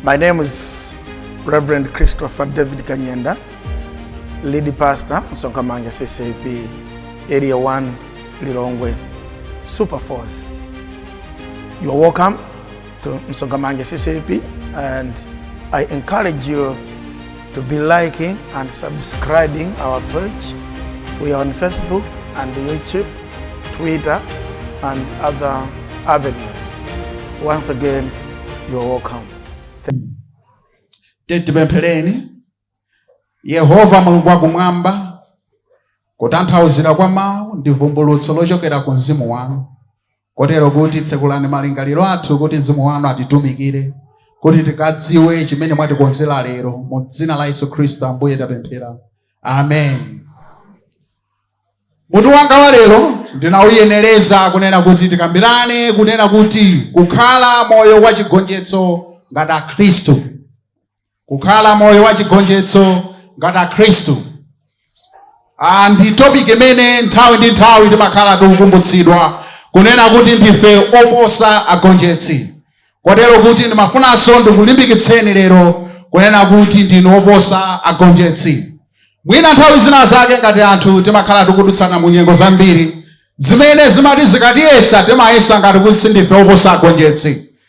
My name is Reverend Christopher David Kanyenda, lead pastor, Sonkamanga CCP, Area 1, Lilongwe, Super Force. You are welcome to Msongamange CCP and I encourage you to be liking and subscribing our page. We are on Facebook and YouTube, Twitter, and other avenues. Once again, you are welcome. titipemphereni yehova mulungu wakumwamba kutanthauzira kwa mawu ndi vumbulutso lochokera ku mzimu wanu Kotero kuti tsekulani malingaliro athu kuti Mzimu wanu atitumikire kuti tikadziwe chimene mwatikonzera lero mu dzina la Yesu Khristu Ambuye tapemphera. Amen. Mutu wanga wa lero ndinauyenereza kunena kuti tikambirane kunena kuti kukhala moyo wa chigonjetso ngati Akhristu. kukhala moyo wa chigonjetso ngati akhristu Ah, ndi topic imene nthawi ndi nthawi timakhala tikukumbutsidwa kunena kuti ndife oposa agonjetsi kotero kuti ndimafunanso ndikulimbikitseni lero kunena kuti ndinu oposa agonjetsi mwina nthawi zina zake ngati anthu timakhala tikudutsana mu nyengo zambiri zimene zimati zikatiyesa timayesa ngati kuti sindife oposa agonjetsi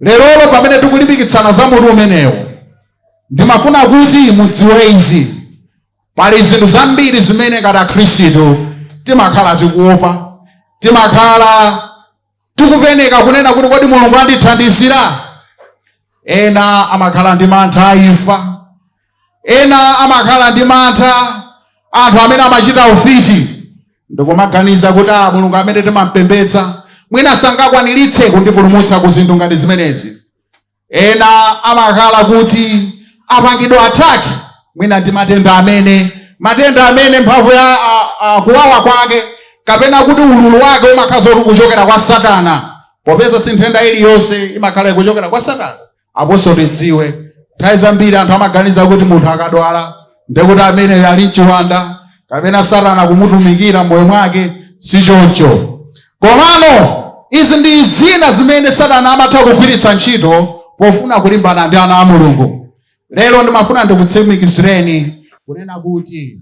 Lerolo pamene tikulimbikitsana za mutu umenewu, ndimafuna kuti mudziwe izi, Pali zinthu zambiri zimene ngati Akhristu timakhala tikuopa, timakhala tikupenekera kunena kuti kodi Mulungu andithandizira? Ena amakhala ndi mantha a imfa, Ena amakhala ndi mantha anthu amene amachita ufiti ndikumaganiza kuti a ah, Mulungu amene timampembedza mwina sangakwaniritse kundipulumutsa ku zinthu ngati zimenezi. Ena amakhala kuti apangidwa ataki mwina ndi matenda amene matenda amene mphamvu ya kuwawa kwake kapena kuti ululu wake umakhala ukuchokera kwa Satana, popeza si nthenda iliyonse imakhala ikuchokera kwa Satana. aponso tidziwe nthawi zambiri anthu amaganiza kuti munthu akadwala ndekuti ameneyo ali n'chiwanda kapena satana akumutumikira m'moyo mwake si choncho komano izi ndi zina zimene satana amatha kugwiritsa ntchito pofuna kulimbana ndi ana a mulungu lero ndimafuna ndikutsimikizireni kunena kuti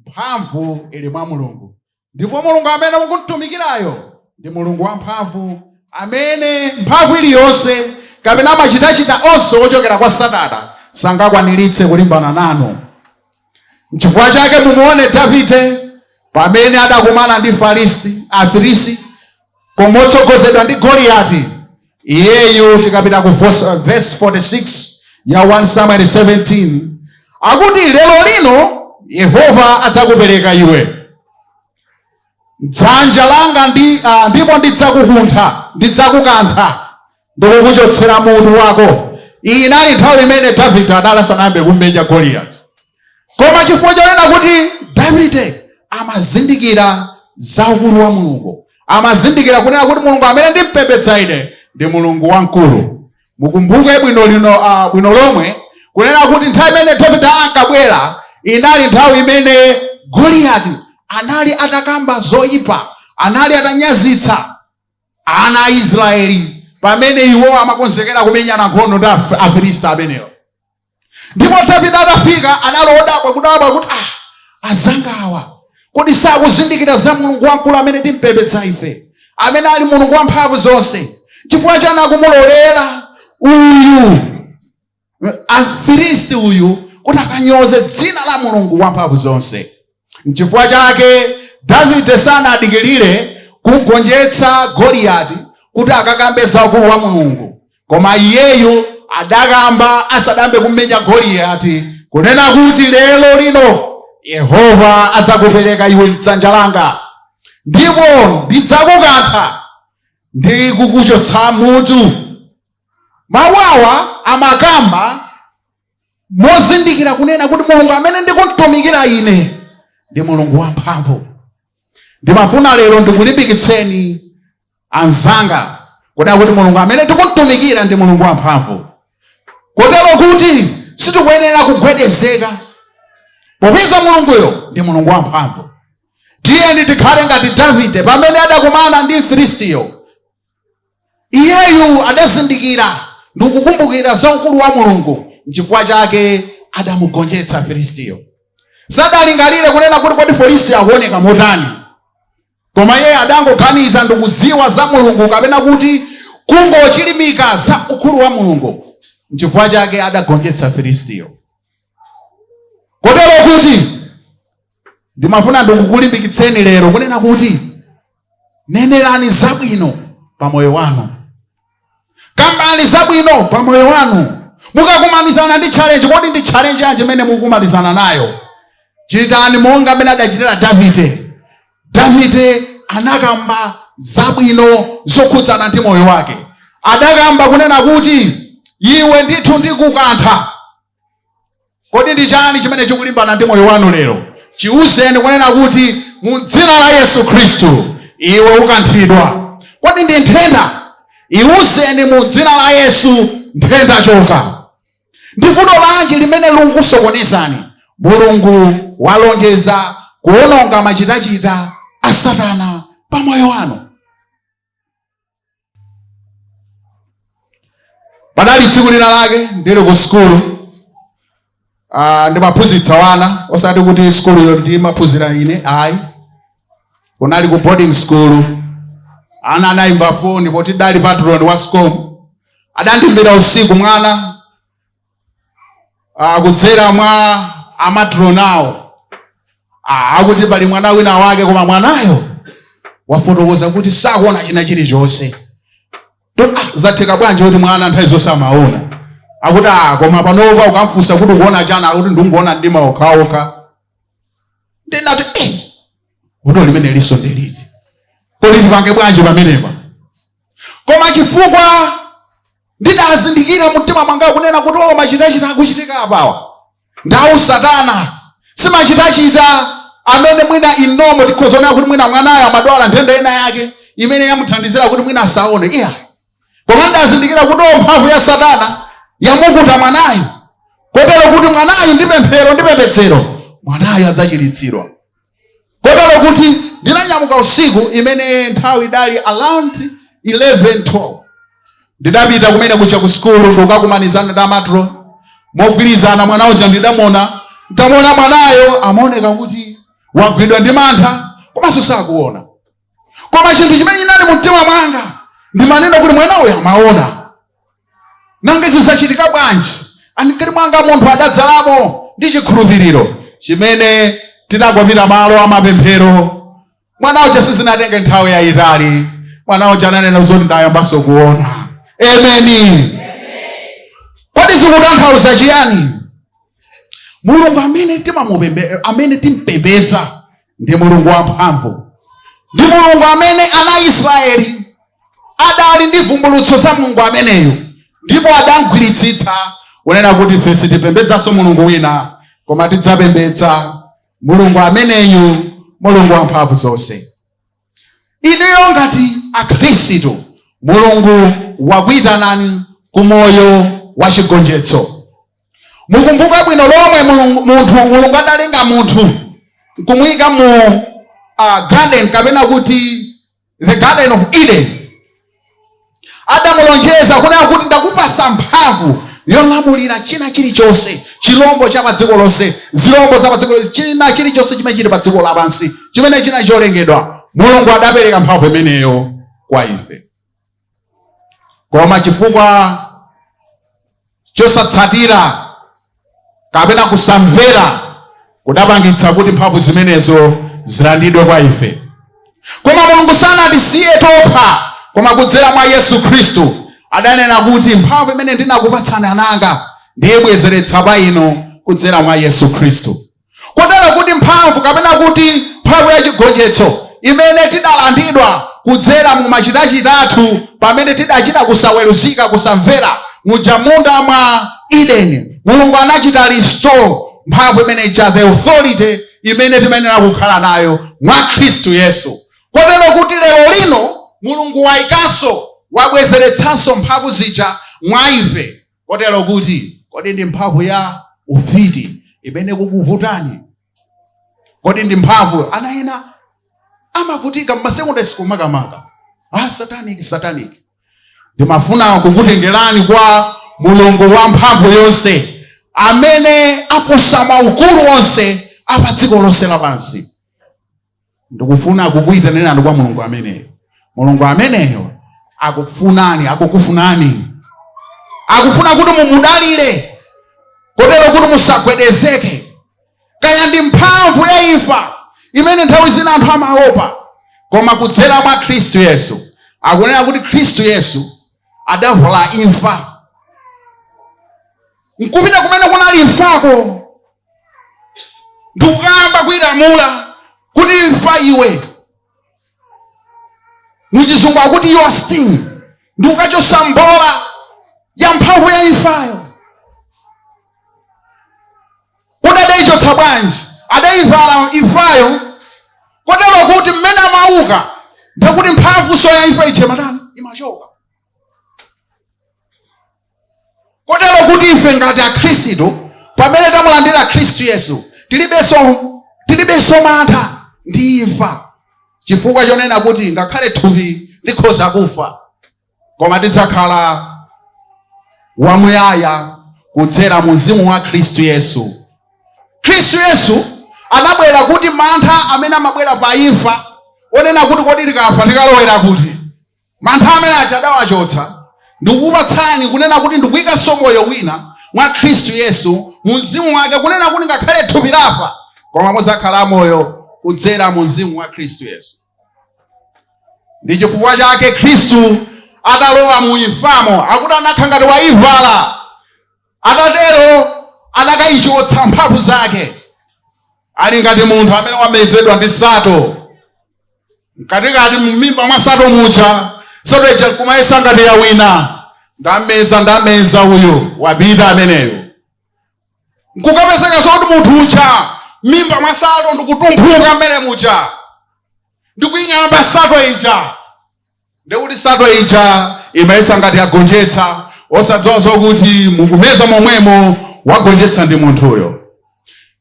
mphamvu ili mwa mulungu Ndipo Mulungu amene mukumtumikirayo ndi Mulungu wamphamvu amene mphamvu iliyonse kapena machitachita onse ochokera kwa Satana sangakwaniritse kulimbana nanu. Nchifukwa chake mumuone Davide pamene adakumana ndi Filisti, Afilisti Koma motsogozedwa ndi Goliati, iyeyu tikapita ku verse 46 ya 1 Samuel 17 akuti lero lino Yehova adzakupereka iwe m'dzanja langa ndi, ah, ndipo ndidzakukuntha ndidzakukantha ndikukuchotsera mutu wako iyi inali nthawi imene davide anali asanayambe kummenya goliyati koma chifukwa chonena kuti davide amazindikira za ukulu wa mulungu amazindikira kunena kuti mulungu amene ndimpembedza ine ndi mulungu wamkulu mukumbuke bwino l- bwino lomwe kunena kuti nthawi imene davide ankabwera inali nthawi imene goliyati anali atakamba zoyipa anali atanyazitsa ana a Israeli pamene iwo amakonzekera kumenyana nkhondo ndi Af- Afilisti amenewo. Ndipo Davide atafika anali odabwa kudabwa kuti ah, azanga awa kodi sakuzindikira za Mulungu wamkulu amene timpembedza ife, amene ali Mulungu wamphamvu zonse, chifukwa chani akumulolera uyu afilisti uyu kuti akanyoze dzina la mulungu wamphamvu zonse nchifukwa chake davide sanadikirire kugonjetsa goliyati kuti akakambe za ukulu wa mulungu koma iyeyu adakamba asadambe kummenya goliyati kunena kuti lero lino yehova adzakupereka iwe mdzanja langa ndipo ndidzakukantha ndi kukuchotsa mutu Mawu awa amakamba mozindikira kunena kuti mulungu amene ndikumtumikira ine ndi mulungu wamphamvu. Ndimafuna lero ndikulimbikitseni anzanga kunena kuti mulungu amene tikumtumikira ndi mulungu wamphamvu, kotero kuti sitikuyenera kugwedezeka popeza mulunguyo ndi mulungu wamphamvu. Tiyeni tikhale ngati Davide pamene adakumana ndi Mfilistiyo. iyeyu adazindikira ndi kukumbukira za ukulu wa mulungu nchifukwa chake adamugonjetsa filistiyo sadalingalire kunena kuti kodi filistiyo akuoneka motani koma iye adangoganiza ndi kudziwa za mulungu kapena kuti kungochilimika za ukulu wa mulungu nchifukwa chake adagonjetsa filistiyo kotero kuti ndimafuna ndikukulimbikitseni lero kunena kuti nenerani zabwino pa moyo wanu kambani zabwino pa moyo wanu mukakumanizana ndi challenge kodi ndi challenge yanji imene mukumanizana nayo chitani monga amene adachitira davide davide anakamba zabwino zokhudzana ndi moyo wake adakamba kunena kuti iwe ndithu ndikukantha Kodi ndi chani chimene chikulimbana ndi moyo wanu lero? Chiuzeni kunena kuti mu dzina la Yesu Khristu iwe ukanthidwa. Kodi ndi nthenda? Iuzeni mu dzina la Yesu nthenda choka. Ndi vuto lanji limene likukusokonezani? Mulungu walonjeza kuwononga machitachita a Satana pa moyo wanu. padali tsiku lina lake ndili ku sukulu ah, ndimaphunzitsa wana osati kuti sukuluyo ndimaphunzira ine ayi kunali ku boarding school ana anayimba foni poti ndidali patron wa scom adandiimbira usiku mwana ah, kudzera mwa amatron awo ah, akuti pali mwana wina wake koma mwanayo wafotokoza kuti sakuona china chilichonse To- ah, zatheka bwanji kuti mwana nthawi zonse amaona akuti ah, koma panopa ukamfunsa kuti ukuona chiyani akuti ndikungoona mdima okhaokha ndinati eh, vuto limenelinso ndi liti kodi ndipange bwanji pamenepa koma chifukwa ndidazindikira mumtima mwanga kunena kuti o machitachita akuchitika apawa ndi a usatana si machitachita amene mwina inu mukhoza kunena kuti mwina mwanayo amadwala nthenda ina yake imene yamuthandizira kuti mwina asaone iyayi koma ndidazindikira kuti o mphamvu ya satana yamukuta mwanayo kotero kuti mwanayu ndi pemphero ndi pembedzero mwanayo adzachiritsidwa kotero kuti ndinanyamuka usiku imeneyo nthawi idali around 11 12 ndidapita kumene kuja ku sukulu ndikukakumanizana ndi amatron mogwirizana mwana uja ndidamuona ntamuona mwanayo amaoneka kuti wagwidwa ndi mantha komanso sakuona koma chinthu chimene chinali mu mtima mwanga ndimanena kuti mwana uyu amaona nanga izi zachitika bwanji m'kati mwanga mulungu adadzalamo ndi chikhulupiriro chimene tidagwadira malo a mapemphero mwana uja sizinatenge nthawi yayitali mwana uja ananena zoti ndayambanso kuona amen kodi zikutanthauza chiyani mulungu amene timamupembe amene timpembedza ndi mulungu wamphamvu ndi mulungu amene ana a israeli adali ndi vumbulutso za mulungu ameneyu ndipo adamgwiritsitsa kunena kuti ife sitipembedzanso mulungu wina koma tidzapembedza mulungu ameneyu mulungu wamphamvu zonse inuyo ngati akhristu mulungu wakuyitanani ku moyo wa chigonjetso mukumbuka bwino lomwe mulungu, munthu mulungu adalenga munthu nkumuyika mu uh, garden kapena kuti the garden of eden adamulonjeza kunena kuti ndakupatsa mphamvu yolamulira china chilichonse chilombo cha padziko lonse zilombo za padziko lonse china chilichonse chimene chili padziko lapansi chimene chili cholengedwa mulungu adapereka mphamvu imeneyo kwa ife koma chifukwa Chosatsatira kapena kusamvera kudapangitsa kuti mphamvu zimenezo zilandidwe kwa ife. Koma Mulungu sanatisiye tokha, koma kudzera mwa Yesu Khristu adanena kuti mphamvu imene ndinakupatsani ananga, ndiyibwezeretsa pa inu kudzera mwa Yesu Khristu. kotero kuti mphamvu kapena kuti mphamvu ya chigonjetso imene tidalandidwa kudzera mu machitachita athu pamene tidachita kusaweruzika kusamvera muja munda mwa Eden mulungu anachita restore mphamvu imene ija the authority imene timayenera kukhala nayo mwa khristu yesu kotero kuti lero lino mulungu waikanso wabwezeretsanso mphamvu zija mwa ife kotero kuti kodi ndi mphamvu ya ufiti imene kukuvutani kodi ndi mphamvu ana ena amavutika mmasekondari school makamaka ah, satanic satanic ndimafuna kukutengerani kwa mulungu wa mphamvu yonse amene aposa maukulu onse apa dziko lonse lapansi ndikufuna kukuyitanirani kwa mulungu ameneyo mulungu ameneyo akufunani akukufunani akufuna kuti mumudalire kotero kuti musagwedezeke kaya ndi mphamvu ya imfa imene nthawi zina anthu amaopa koma kudzera mwa khristu yesu akunena kuti khristu yesu adavala imfa nkupita kumene kunali imfako ndikukayamba kuilamula kuti imfa iwe muchizungu akuti your sting ndikukachosa mbola ya mphamvu ya imfayo kodi adaichotsa bwanji adaivala imfayo kotero kuti mmene amauka ndikuti mphamvu so ya imfa ija imatani imachoka kotero kuti ife ngati akhristu pamene tamulandira khristu yesu tilib tilibenso mantha ndi imfa chifukwa chonena kuti ngakhale thupi likhoza kufa koma tidzakhala wamuyaya kudzera mu mzimu wa khristu yesu khristu yesu anabwera kuti mantha amene amabwera pa imfa onena kuti kodi tikafa tikalowera kuti mantha amene aja adawachotsa ndikukupatsani kunena kuti ndikuyikanso moyo wina mwa khristu yesu mu mzimu wake kunena kuti ngakhale thupi lafa koma muzakhala amoyo kudzera mu mzimu wa khristu yesu ndi chifukwa chake khristu atalowa mu imfamo akuti anakhala ngati wayivala atatero adakayichotsa mphamvu zake ali ngati munthu amene wamezedwa ndi sato mkatikati mumimba mwa sato muja sato ija nkumayesa ngati ya wina ndameza ndameza uyo wapita ameneyo nkukapezeka zoti munthu uja mmimba mwa sato ndikutumphuka mmene muja ndikuing'amba sato ija ndi kuti sato ija imayesa ngati yagonjetsa osadziwa zokuti mukumeza momwemo wagonjetsa ndi munthuyo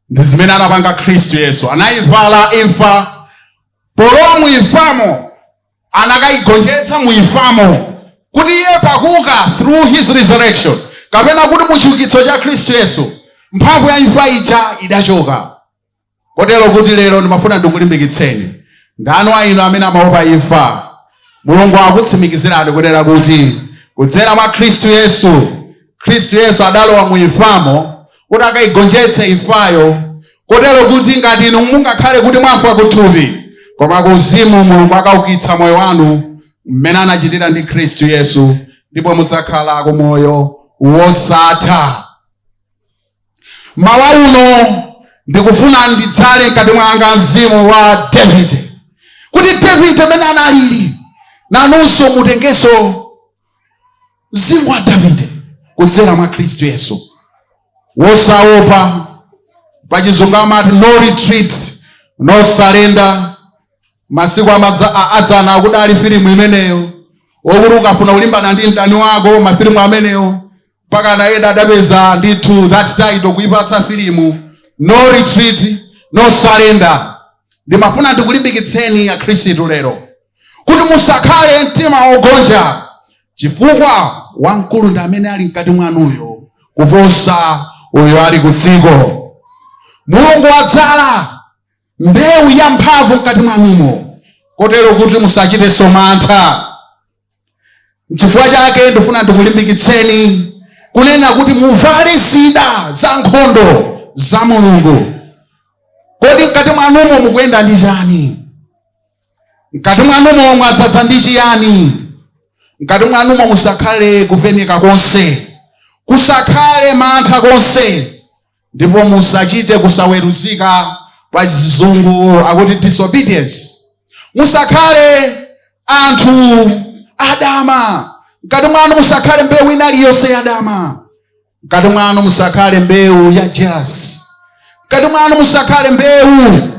ndi zimene anapanga khristu yesu anayivala imfa polowa muimfamo anakayigonjetsa muimfamo kuti iye pakuka through his resurrection kapena kuti muchiukitso cha khristu yesu mphamvu ya imfa ija idachoka kotero kuti lero ndimafuna ndikulimbikitseni ndani wa inu amene amaopa imfa mulungu akutsimikizirani kunena kuti kudzera mwa khristu yesu khristu yesu adalowa mu imfamo kuti akayigonjetse imfayo kotero kuti ngati inu mungakhale kuti mwafa kuthupi koma kuuzimu mulungu akaukitsa moyo wanu mmene anachitira ndi khristu yesu ndipo mudzakhala ku moyo wosatha mmawa uno ndikufuna ndidzale mkati mwanga mzimu wa davide kuti davide mmene analili nanunso mutengenso mzimu wa davide kudzera mwa khristu yesu wosaopa pachizungu amati no retreat no surrender masiku amadza- a- adzana kudali filimu imeneyo okuti ukafuna kulimbana ndi mdani wako mafilimu amenewo mpakana ena adapeza ndithu that title kuipatsa filimu no retreat no surrender ndimafuna ndikulimbikitseni akhristu lero kuti musakhale mtima wogonja chifukwa wamkulu ndi amene ali mkati mwanuyo kuposa uyo ali ku dziko mulungu wadzala mbewu ya mphamvu mkati mwanumo kotero kuti musachitenso mantha Nchifukwa chake ndifuna ndikulimbikitseni kunena kuti muvale zida za nkhondo za Mulungu. Kodi mkati mwanumo mukuyenda ndi chani? Mkati mwanumo mwadzaza ndi chiyani? Mkati mwanumo musakhale kupeneka konse, kusakhale mantha konse. ndipo musachite kusaweruzika pa chizungu akuti disobedience musakhale anthu adama mkati mwanu musakhale mbewu ina iliyonse yadama mkati mwanu musakhale mbewu ya jealousy mkati mwanu musakhale mbewu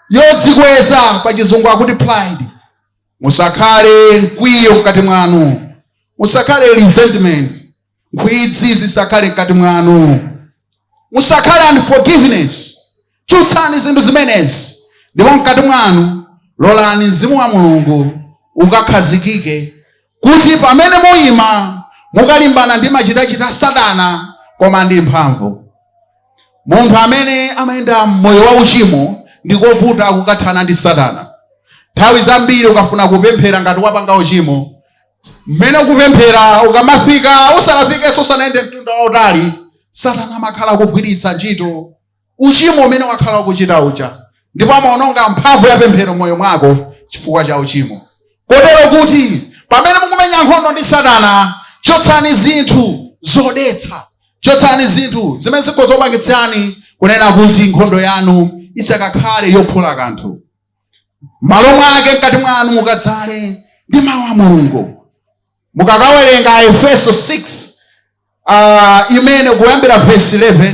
yodzikweza pa chizungu akuti pride musakhale mkwiyo mkati mwanu musakhale resentment nkhwidzi zisakhale mkati mwanu musakhale unforgiveness chotsani zinthu zimenezi ndipo mkati mwanu lolani mzimu wa mulungu ukakhazikike kuti pamene muyima mukalimbana ndi machitachita a satana koma ndi mphamvu munthu amene amayenda moyo wa uchimo ndi kovuta kukathana ndi satana nthawi zambiri ukafuna kupemphera ngati wapanga uchimo mmene ukupemphera ukamafika usanafikenso usanayende mtunda wautali satana amakhala kugwiritsa ntchito uchimo umene wakhala ukuchita uja ndipo amaononga mphamvu ya pemphero moyo mwako chifukwa cha uchimo kotero kuti pamene mukumenya nkhondo ndi satana chotsani zinthu zodetsa chotsani zinthu zimene zikhoza kupangitsani kunena kuti nkhondo yanu isakakhale yophula kanthu malo mwake mkati mwanu mukadzale ndi mawu a mulungu mukakawerenga aefeso 6 uh, imene kuyambira vesi 11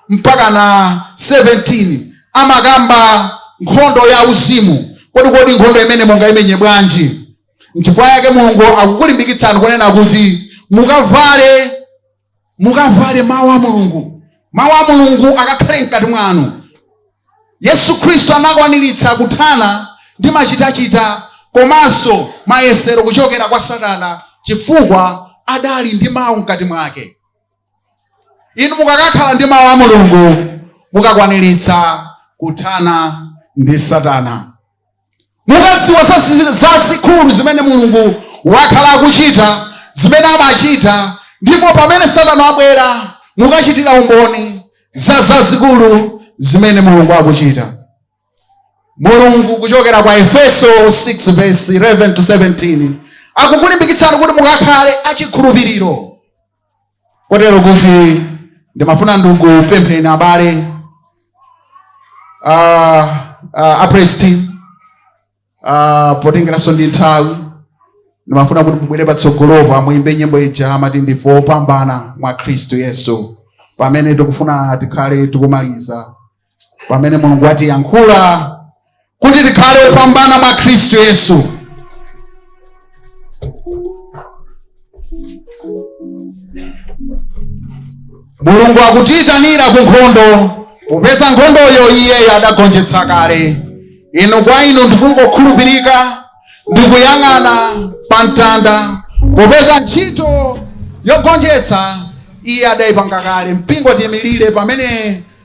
mpaka na 17 amakamba nkhondo ya uzimu kodi kodi nkhondo imeneyi mungaimenye bwanji nchifukwa yake mulungu akukulimbikitsani kunena kuti mukavale mukavale mawu a mulungu mawu a mulungu akakhale mkati mwanu yesu khristu anakwaniritsa kuthana ndi machitachita komanso mayesero kuchokera kwa satana chifukwa adali ndi mawu mkati mwake inu mukakakhala ndi mawu a mulungu mukakwaniritsa kuthana ndi satana mukadziwa zazikulu zimene mulungu wakhala akuchita zimene amachita ndipo pamene satana abwera mukachitira umboni za zazikulu zimene mulungu akuchita mulungu kuchokera kwa efeso 6 verse 11 to 17 akukulimbikitsani kuti mukakhale achikhulupiriro kotero kuti ndimafuna ndikupempheni abale uh, uh, a praise team uh, potengeranso ndi nthawi ndimafuna kuti mubwere patsogolopa muyimbe nyimbo ija amati ndife opambana mwa khristu yesu pamene tikufuna tikhale tikumaliza pamene mulungu watiyankhula kuti tikhale opambana mwa khristu yesu mulungu akutiyitanira ku nkhondo popeza nkhondoyo iyeyo adagonjetsa kale inu kwa inu ndikungokhulupirika ndikuyang'ana pa mtanda popeza ntchito yogonjetsa iye adayipanga kale mpingo tiyimirire pamene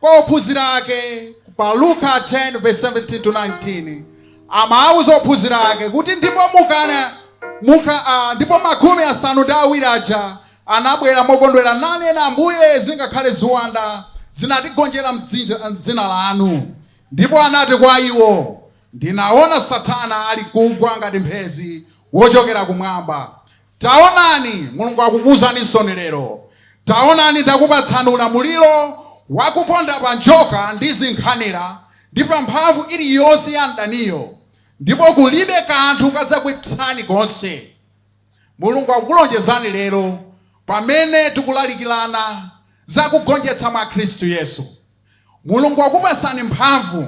kwa ophunzira ake pa Luka 10 verse 17 to 19 amawuza ophunzira ake kuti ndipo mukana muka uh, ndipo makumi asanu ndi awiri aja anabwera mokondwera nanena Ambuye zingakhale ziwanda zinatigonjera mdzina lanu ndipo anati kwa iwo ndinaona Satana ali kugwa ngati mphezi wochokera kumwamba Taonani, Mulungu akukuuzaninso lero. Taonani, ndakupatsani ulamuliro wakuponda pa njoka ndi zinkhanira, ndi pa mphamvu iliyonse ya mdaniyo, ndipo kulibe kanthu kadzakuipsani konse. Mulungu akukulonjezani lero, pamene tikulalikirana za kugonjetsa mwa Khristu Yesu. Mulungu wakupatsani mphamvu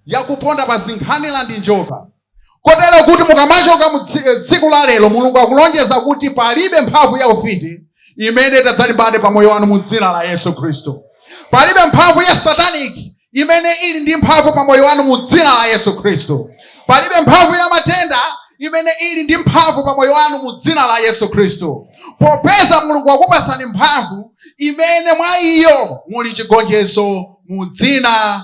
yakuponda pa zinkhanira ndi njoka. kotero kuti mukamachoka mu dzi- eh, tsiku la lero mulungu akulonjeza kuti palibe mphamvu ya ufiti imene itadzalimbane pa moyo wanu mu dzina la yesu khristu palibe mphamvu ya sataniki imene ili ndi mphamvu pa moyo wanu mu dzina la yesu khristu palibe mphamvu ya matenda imene ili ndi mphamvu pa moyo wanu mu dzina la yesu khristu popeza mulungu wakupasani mphamvu imene mwa iyo muli chigonjetso mu dzina